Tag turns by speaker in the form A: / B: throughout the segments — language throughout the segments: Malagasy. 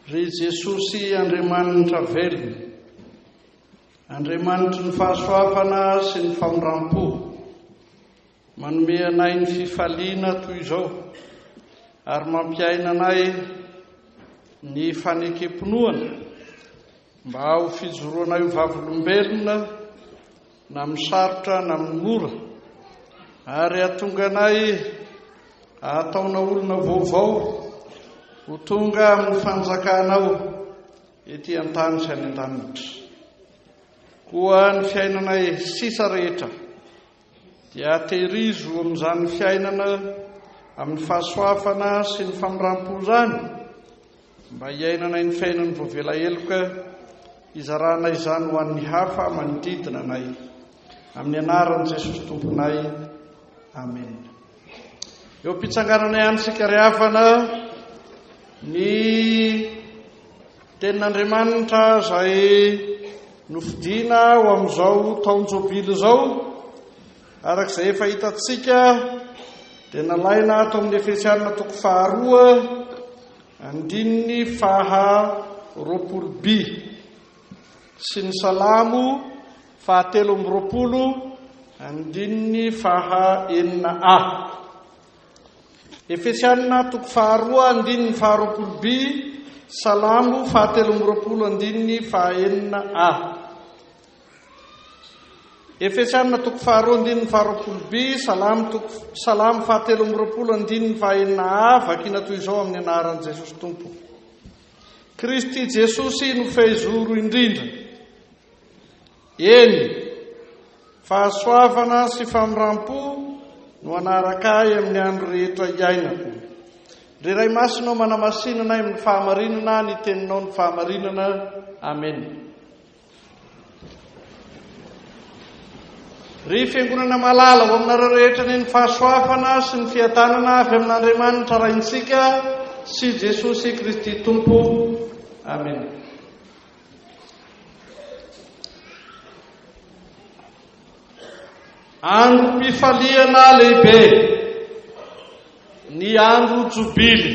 A: Ry Jesosy Andriamanitra velona, Andriamanitry ny fahasoavana sy ny famindram-po, manome anay ny fifaliana toy izao ary mampiaina anay ny fanekempinoana mba ho fijoroanay ho vavolombelona na amin'ny sarotra na amin'ny mora, ary hahatonga anay hahataona olona vaovao ho tonga amin'ny fanjakanao ety an-tany sy any an-danitra. Koa ny fiainanay sisa rehetra dia aterizo amin'izany fiainana amin'ny fahasoavana sy ny famindram-po izany, Mba hiainanay ny fiainan'ny voavela heloka, hizarana izany ho an'ny hafa manodidina anay. Amin'ny anaran'i Jesosy Tomponay. Amen. Eo am-pitsangananay any isika ry havana ny tenin'Andriamanitra izay nofidina ho amin'izao taon-jobily izao. Araka izay efa hitantsika dia nalaina ato amin'ny Efesiana toko faharoa andininy faha roapolo bi sy ny salamo fahatelo amby roapolo andininy faha enina a. Efesiana toko faharoa andininy faha roapolo bi, salamo fahatelo amby roapolo andininy faha enina a. Efesiana toko faharoa andininy faharoapolo bi, Salamo toko Salamo fahatelo amby roapolo andininy fahaenina a, vakina toy izao amin'ny anaran'i Jesosy Tompo. Kristy Jesosy no fehizoro indrindra. Eny, fahasoavana sy famrampo no anaraka ahy amin'ny andro rehetra iainako. Ry Ray Masina, manamasinana amin'ny fahamarinana ny teninao ny fahamarinana. Amen. Ry Fiangonana malala, ho aminareo rehetra anie ny fahasoavana sy ny fiadanana avy amin'Andriamanitra Raintsika sy Jesosy Kristy Tompo. Amena. Androm-pifaliana lehibe, ny andro jobily.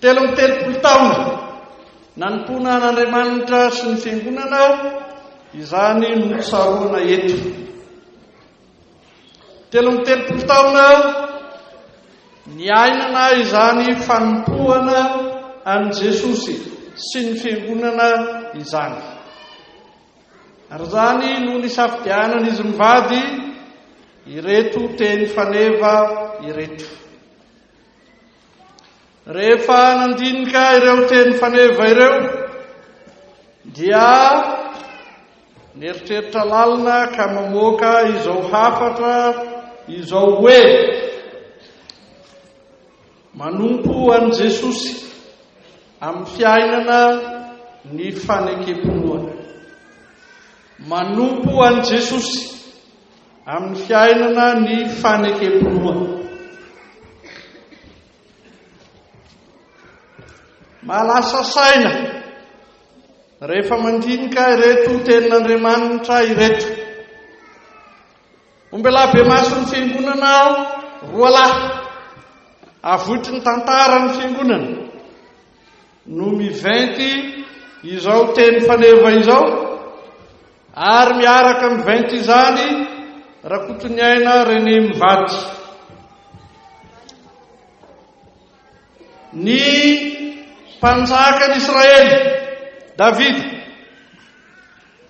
A: Telo amby telopolo taona nanompoana an'Andriamanitra sy ny Fiangonana izany no tsaroana eto. Telo amby telopolo taona niainana izany fanompoana an'i Jesosy sy ny Fiangonana izany. Ary izany no nisafidianan'izy mivady ireto teny faneva ireto. Rehefa nandinika ireo teny faneva ireo dia nieritreritra lalina ka mamoaka izao hafatra izao hoe manompo an'i Jesosy amin'ny fiainana ny fanekem-pinoana. Manompo an'i Jesosy. Amin'ny fiainana ny fanekem-pinoana. Mahalasa saina rehefa mandinika ireto tenin'Andriamanitra ireto. Ombela be mason'ny fiangonana aho, roa lahy. Avoitry ny tantara ny fiangonana. no miventy izao teny faneva izao ary miaraka miventy izany Rakotoniaina René Mivady. Ny mpanjakan'Israely Davida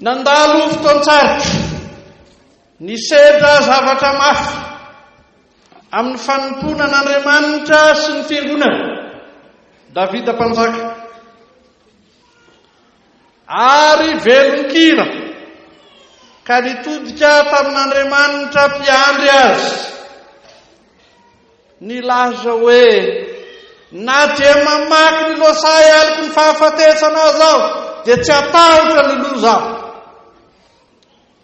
A: Nandalo fotoan-tsarotra, nisedra zavatra mafy amin'ny fanompoana an'Andriamanitra sy ny Fiangonany Davida Mpanjaka. Ary velon-kira ka nitodika tamin'Andriamanitra mpiandry azy. Nilaza hoe, Na dia mamaky ny lohasaha aloky ny fahafatesana aza aho, dia tsy hatahotra ny loza aho.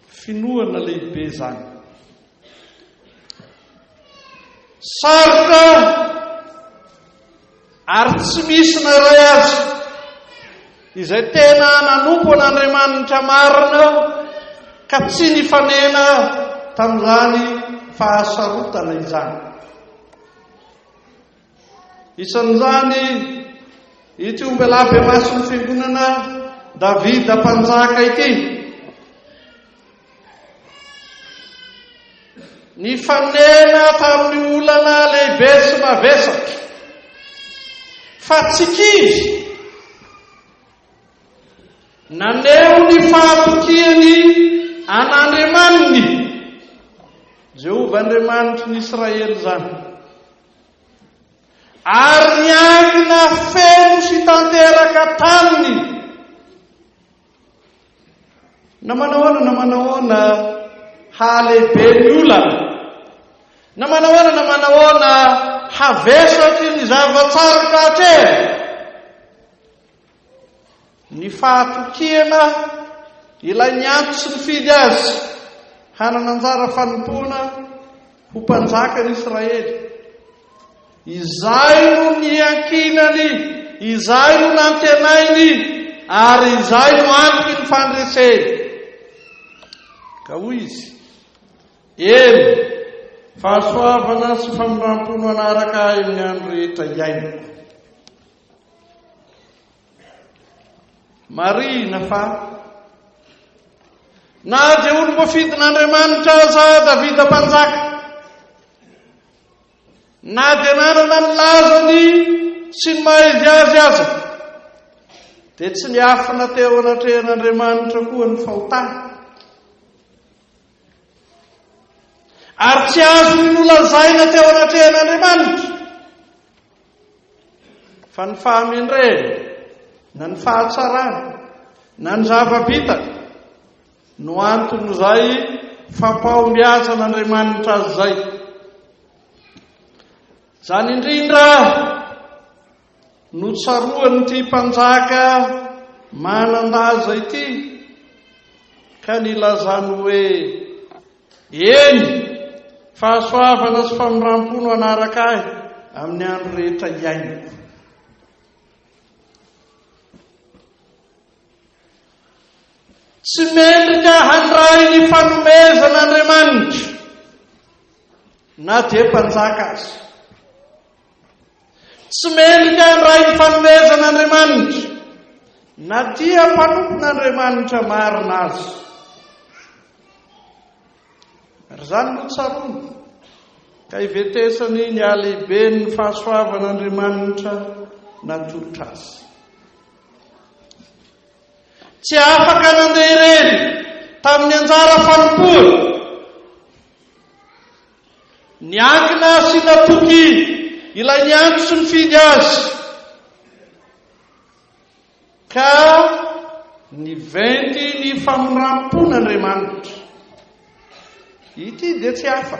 A: Finoana lehibe izany. Sarotra. Ary tsy misy na iray aza izay tena nanompo an'Andriamanitra marina ka tsy nifanena tamin'izany fahasarotana izany. Isan'izany ity ombelahy bemason'ny Fiangonana Davida Mpanjaka ity. Nifanena tamin'ny olana lehibe sy mavesatra fa tsy kivy naneho ny fahatokiany an'Andriamaniny Jehovah Andriamanitry ny Israely izany ary niangina feno sy tanteraka taminy Na manahoana na manahoana, hahalehibe ny olana. Na manahoana na manahoana, havesatry ny zava-tsarotra atrehina. Ny fahatokiana ilay nianto sy nifidy azy hanana anjara fanompoana ho mpanjakan'Israely. Izay no niankinany, izay no nantenainy, ary izay no antoky ny fandreseny. Ka hoy izy, Eny, fahasoavana sy famindram-po no hanaraka ahy amin'ny andro rehetra iainako. Marihina fa na dia olom-boafidin'Andriamanitra aza Davida Mpanjaka, Na dia nanana ny lazany sy ny maha izy azy aza, dia tsy niafina teo anatrehan'Andriamanitra koa ny fahotany. Ary tsy azony nolazaina teo anatrehan'Andriamanitra fa ny fahamendrehany na ny fahatsarany na ny zava-bitany No anton'izay fampahombiazan'Andriamanitra azy izay. Izany indrindra no tsaroan'ity mpanjaka manan-daza ity ka nilazany hoe eny fahasoavana sy famindram-po no hanaraka ahy amin'ny andro rehetra iainako. Tsy mendrika handray ny fanomezan' Andriamanitra na dia mpanjaka aza. Tsy mendrika handray ny fanomezan' Andriamanitra na dia mpanompon' Andriamanitra marina aza. Ary izany no tsaroany ka hivetesany ny halehiben' ny fahasoavan' Andriamanitra natolotra azy. Tsy afaka nandeha irery tamin'ny anjara fanompoany. Niankina sy natoky ilay niantso sy nifidy azy, ka niventy ny famoram-pon'Andriamanitra. Ity dia tsy hafa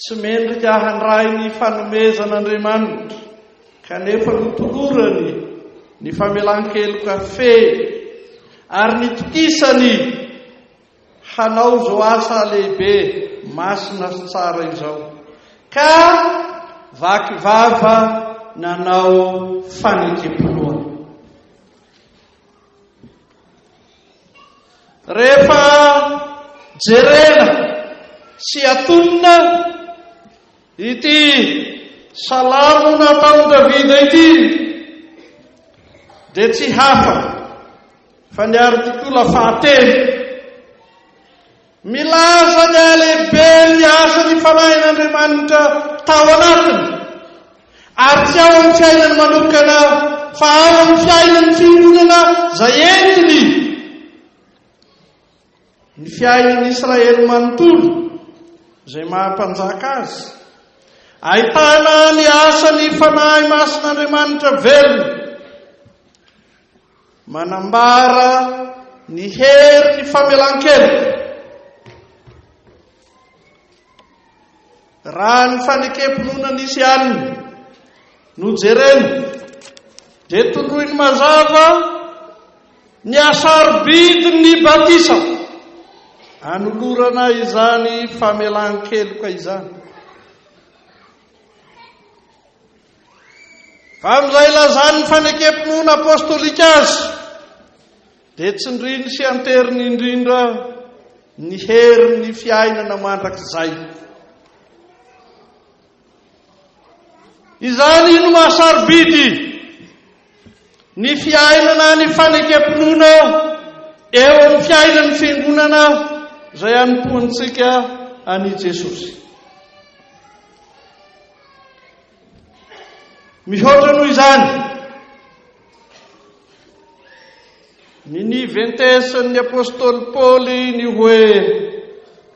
A: Tsy mendrika handray ny fanomezan'Andriamanitra kanefa notolorany ny famelan-keloka feno ary nitokisany hanao izao asa lehibe, masina sy tsara izao, ka vaky vava nanao fanekem-pinoana. Rehefa jerena sy atonina ity salamo nataon'i Davida ity dia tsy hafa fa ny artikola fahatelo Milaza ny halehiben'ny asa ny fanahin'Andriamanitra tao anatiny, ary tsy ao amin'ny fiainany manokana fa ao amin'ny fiainan'ny fiangonana izay entiny. Ny fiainan'i Israely manontolo izay maha-mpanjaka azy, ahitana ny asan'ny Fanahy Masin'Andriamanitra velona. Manambara ny hery ny famelan-keloka. Raha ny fanekem-pinoana nisy alina no jerena, dia tondroiny mazava ny hasarobidin'ny batisa anolorana izany famelan-keloka izany. Amin'izay ilazany ny fanekem-pinoana apostolika azy, dia tsindriny sy anteriny indrindra ny herin'ny fiainana mandrakizay. Izany no mahasarobidy ny fiainana ny fanekem-pinoana eo amin'ny fiainan'ny fiangonana izay anompoantsika an'i Jesosy. Mihoatra noho izany, ny niventesin'ny apostoly Paoly ny hoe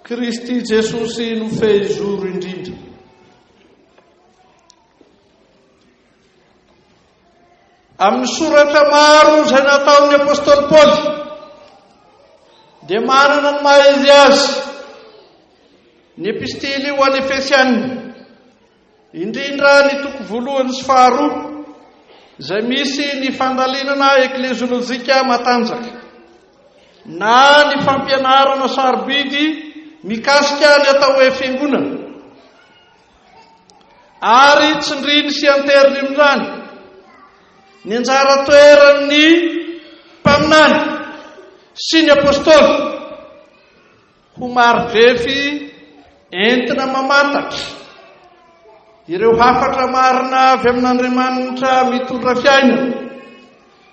A: Kristy Jesosy no fehizoro indrindra. Amin'ny soratra maro izay nataon'ny apostoly Paoly dia manana ny maha izy azy ny epistily ho an'ny Efesianina, indrindra ny toko voalohany sy faharoa izay misy ny fandalinana ekleziolojika matanjaka na ny fampianarana sarobidy mikasika ny atao hoe fiangonana. ary tsindriny sy anteriny amin'ny rano ny anjara toeran'ny mpaminany sy ny apostoly ho maridrefy entina mamantatra ireo hafatra marina avy amin'Andriamanitra mitondra fiainana.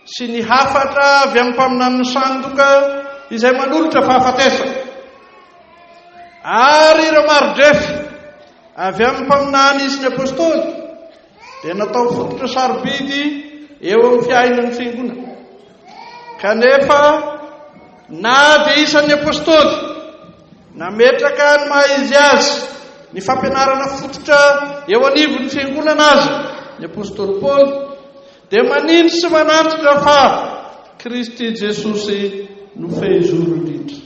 A: sy ny hafatra avy amin'ny mpaminanin'ny sandoka izay manolotra fahafatesana ary ireo mari-drefa avy amin'ny mpaminany izy ny apostoly dia natao fototra sarobidy eo amin'ny fiainan'ny fiangonana kanefa na dia isan'ny apostoly nametraka ny maha izy azy ny fampianarana fototra eo anivon'ny fiangonana azy ny apostoly paoly Dia maniry sy manatrika fa Kristy Jesosy no fehizoro indrindra.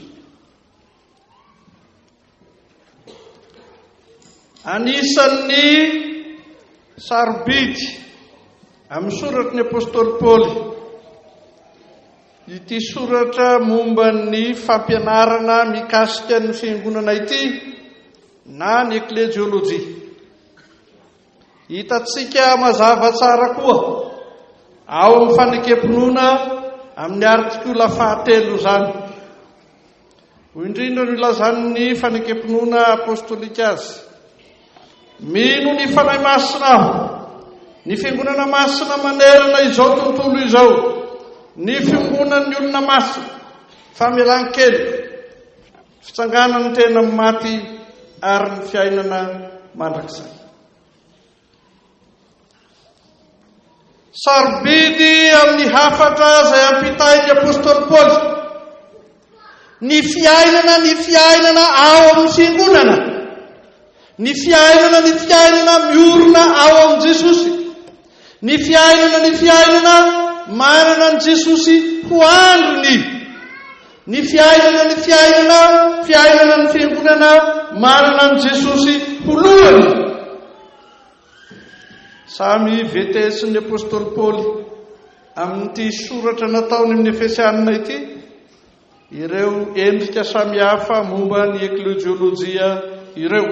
A: Anisan'ny sarobidy amin'ny soratry ny apostoly Paoly ity soratra momba ny fampianarana mikasika ny fiangonana ity na ny eklejiolojia. Hitantsika mazava tsara koa ao amin'ny fanekem-pinoana amin'ny artikola fahatelo izany. Hoy indrindra no ilazan'ny fanekem-pinoana apostolika azy, Mino ny Fanahy Masina aho, ny fiangonana masina manerana izao tontolo izao, ny fiongonan'ny olona masina, famelan-keloka, Fitsanganan'ny tena amin'ny maty ary ny fiainana mandrakizay. Sarobidy amin'ny hafatra izay ampitain'ny apostoly Paoly. Ny fiainana, ny fiainana ao amin'ny fiangonana. Ny fiainana, ny fiainana miorina ao amin'i Jesosy. Ny fiainana ny fiainana manana an'i Jesosy ho andriny Ny fiainana ny fiainana fiainana ny fiangonana manana an'i Jesosy ho lohany Samy VTS-n'ny apostoly Paoly amin'ity soratra nataony amin'ny Efesianina ity ireo endrika samihafa momba ny eklejiolojia ireo.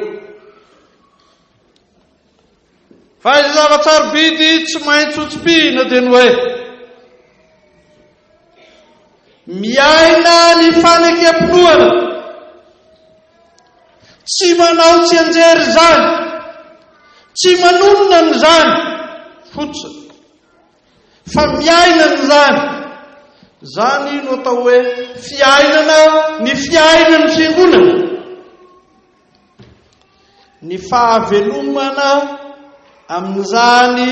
A: Fa izay zava-tsarobidy tsy maintsy hotsipihina dia ny hoe, miaina ny fanekempinoana, tsy manao tsianjery izany, tsy manonona an'izany fotsiny, fa miaina an'izany. Izany no atao hoe fiainana ny fiainan'ny Fiangonana. Ny fahavelomana amin'izany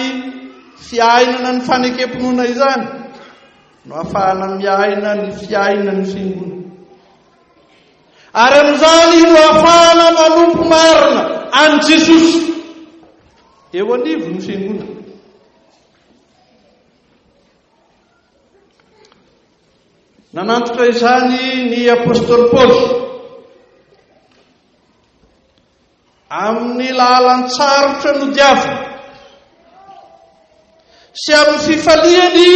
A: fiainana ny fanekem-pinoana izany no afahana miaina ny fiainan'ny fiangonana. Ary amin'izany no afahana manompo marina an'i Jesosy eo anivon'ny fiangonana. Nanantitra izany ny apostoly Paoly amin'ny lahalan-tsarotra nodiaviny sy amin'ny fifaliany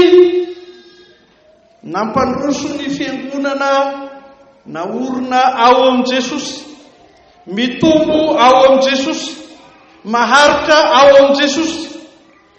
A: nampandroso ny fiangonana naorina ao amin'i Jesosy, mitombo ao amin'i Jesosy, maharitra ao amin'i Jesosy.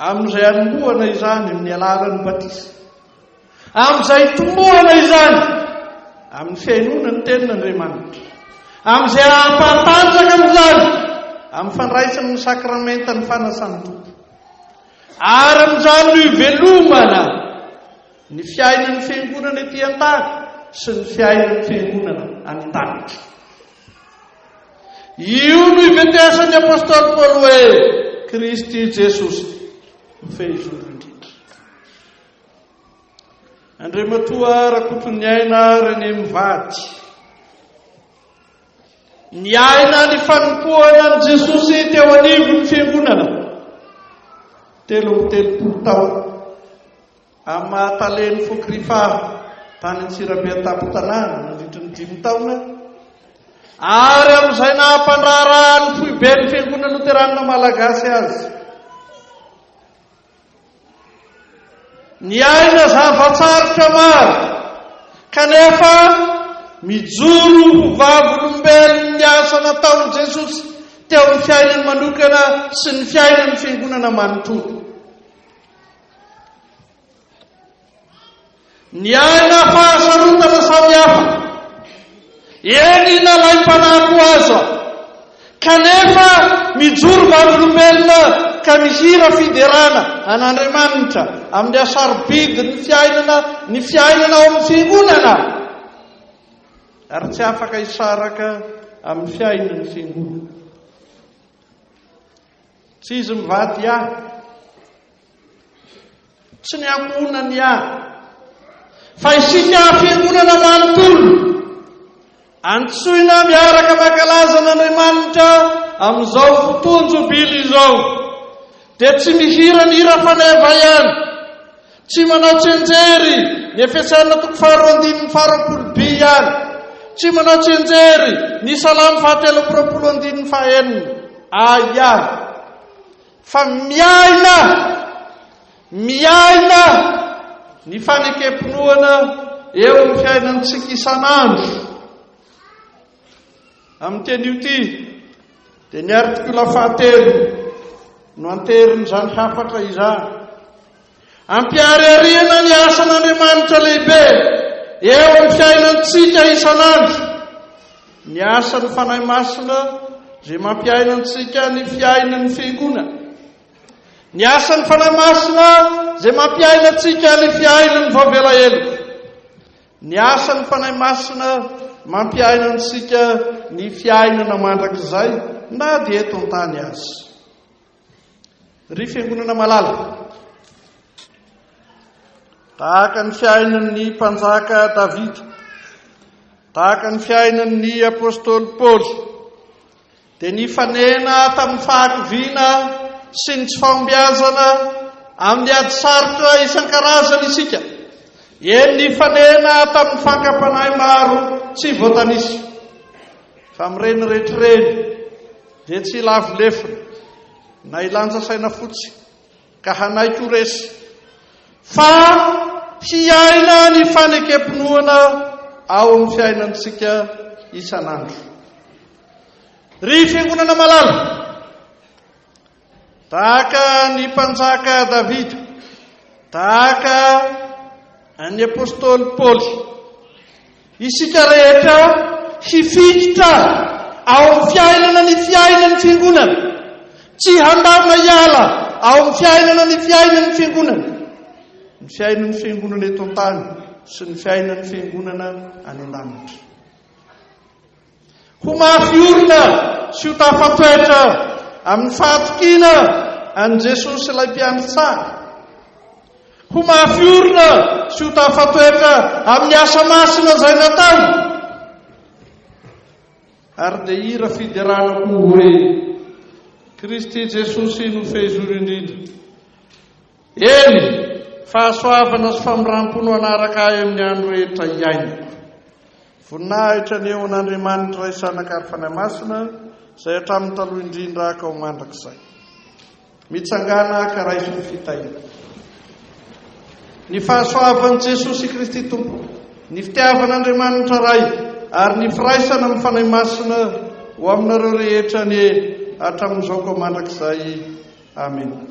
A: Amin'izay anombohana izany amin'ny alalan'ny batisa, amin'izay itombohana izany amin'ny fihainoana ny Tenin'Andriamanitra, amin'izay hahampahatanjaka an'izany amin'ny fandraisana ny sakramentan'ny fanasan'ny Tompo, ary amin'izany no ivelomana ny fiainan'ny Fiangonana ety an-tany sy ny fiainan'ny Fiangonana any an-danitra. Io no iveteasan'ny apostoly Paoly hoe, Kristy Jesosy no fehizoro indrindra. Andriamatoa Rakotoniaina René mivady. Niaina ny fanompoana an'i Jesosy teo anivon'ny fiangonana. Telo amby telopolo taona. Amin'ny maha tale ny foko Rifa tany Antsirabe an-tampon-tanàna nandritry ny dimy taona, ary amin'izay naha-mpandraharaha ny foiben'ny Fiangonana Loteranina Malagasy azy, niaina zava-tsarotra maro, kanefa mijoro ho vavolombelony ny asa nataon'i Jesosy teo amin'ny fiainany manokana sy ny fiainan'ny Fiangonana manontolo. Niaina fahasarotana samihafa, eny nalaim-panahy koa aza, kanefa mijoro vavolombelona ka mihira fiderana an'Andriamanitra amin'ny hasarobidin'ny fiainana ny fiainana ao amin'ny Fiangonana, ary tsy afaka hisaraka amin'ny fiainan'ny Fiangonana. Tsy izy mivady ahy. Tsy ny ankohonany ahy. Fa isika fiangonana manontolo. Antsoina miaraka mankalaza an'Andriamanitra amin'izao fotoan-jobily izao. Dia tsy mihira ny hira faneva ihany. Tsy manao tsianjery ny efesaina toko faharoa andininy faharoapolo bi ihany. Tsy manao tsianjery ny salamo fahatelo amby roapolo andininy fahaenina a ihany. Fa miaina, miaina ny fanekem-pinoana eo amin'ny fiainantsika isan'andro. Amin'ny teny io ity dia ny artikola fahatelo no anteherin'izany hafatra izany. Ampiharihariana ny asan'Andriamanitra lehibe eo amin'ny fiainantsika isan'andro. Ny asan'ny Fanahy Masina izay mampiaina antsika ny fiainan'ny fiangonana. Ny asan'ny Fanahy Masina izay mampiaina antsika ny fiainan'ny vao vela heloka. Ny asan'ny Fanahy Masina mampiaina antsika ny fiainana mandrakizay na dia eto an-tany aza. Ry fiangonana malala, tahaka ny fiainan'ny mpanjaka Davida, tahaka ny fiainan'ny apostoly Paoly, dia nifanena tamin'ny fahakiviana sy ny tsy fahombiazana amin'ny ady sarotra isan-karazany isika. Eny, nifanena tamin'ny fankam-panahy maro tsy voatanisa. Fa amin'ireny rehetra ireny, dia tsy ilavo lefona na ilanja saina fotsiny Ka hanaiky ho resy. Fa hiaina ny fanekem-pinoana ao amin'ny fiainantsika isan'andro. Ry Fiangonana malala, tahaka ny mpanjaka Davida, tahaka ny apostoly Paoly, Isika rehetra hifikitra ao amin'ny fiainana ny fiainan'ny Fiangonana. Tsy handamina hiala ao amin'ny fiainana ny fiainan'ny Fiangonana. Ny fiainan'ny Fiangonana eto an-tany sy ny fiainan'ny Fiangonana any an-danitra. Ho mafy orina sy ho tafatoetra amin'ny fahatokiana an'i Jesosy ilay mpiantsara. Ho mafy orina sy ho tafatoetra amin'ny asa masina izay nataony. Ary dia hira fiderana koa hoe, Kristy Jesosy no fehizoro indrindra. Eny, fahasoavana sy famindram-po no hanaraka ahy amin'ny andro rehetra iainako. Voninahitra ny eo an' Andriamanitra Ray Zanaka ary Fanahy Masina, izay hatramin'ny taloha indrindra haka ho mandrakizay. Mitsangàna haka raiso ny fitahiana. Ny fahasoavan'i Jesosy Kristy Tompo, ny fitiavan' Andriamanitra Ray ary ny firaisana amin'ny Fanahy Masina ho aminareo rehetra anie hatramin'izao ka mandrakizay. Amena.